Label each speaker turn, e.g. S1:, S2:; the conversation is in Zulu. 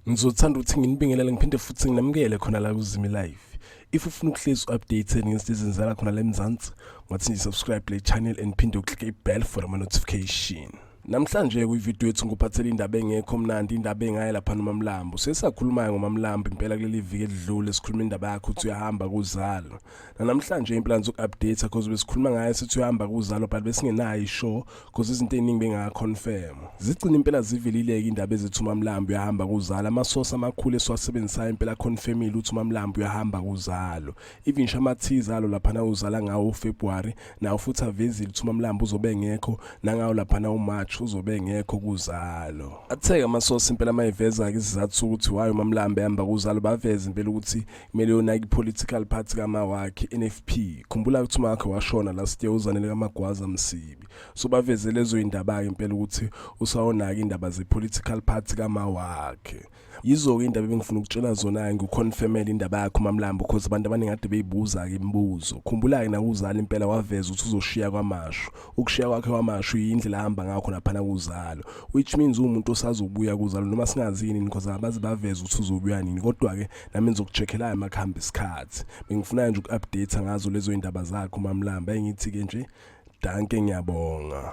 S1: ngizothanda ukuthi nginibingelele ngiphinde futhi nginamukele khona la kuzimi live if ufuna ukuhlezi u-updated ngezinto ezenzala khona la emzansi ngathi nje subscribe le channel and phinde uklike i-bell for ama-notification Namhlanje kwivideo ethu ngikuphathela indaba engekho mnandi indaba engaye lapha noMamlambo. Sesakhulumayo ngoMamlambo impela kuleli viki elidlule sikhuluma indaba yakhe ukuthi uyahamba kuzalo. Namhlanje impela ngizo update because besikhuluma ngaye sithi uyahamba kuzalo but besingenayo ishow because izinto eziningi benga confirm. Zigcina impela zivelileke indaba ezithi uMamlambo uyahamba kuzalo. Amasosa amakhulu esiwasebenzisayo impela confirmile ukuthi uMamlambo uyahamba kuzalo. even ngisho amathiza alo laphana uzala ngawo uFebruary nawo futhi avezile ukuthi uMamlambo uzobe engekho nangawo laphana uMarch uzobe engekho kuzalo atheke amasosi impela mayiveza ke isizathu ukuthi wayo uMamlambo ehamba kuzalo baveza impela ukuthi kumele yona ipolitical party kama wakhe NFP khumbula ukuthi umakhe washona last year uzanele kamagwaza msibi so baveze lezo indaba ke impela ukuthi usawonaka indaba zepolitical party kama wakhe yizo-ke indaba ebengifuna ukutshela zona-ke ngikukhonfemele indaba yakho mamlambo cause abantu abaningi kade beyibuza-ke imibuzo khumbula-ke nakuzala impela waveza ukuthi uzoshiya kwamashu ukushiya kwakhe kwamashu yindlela ahamba ngakho laphana kuzalo which means uwumuntu osazobuya kuzalo noma singazini because abazi baveza ukuthi uzobuya nini kodwa-ke nami ngizokuchekhelayo uma kuhamba isikhathi bengifuna-ke nje uku-update ngazo lezo yindaba zakho mamlamba engithi-ke nje danke ngiyabonga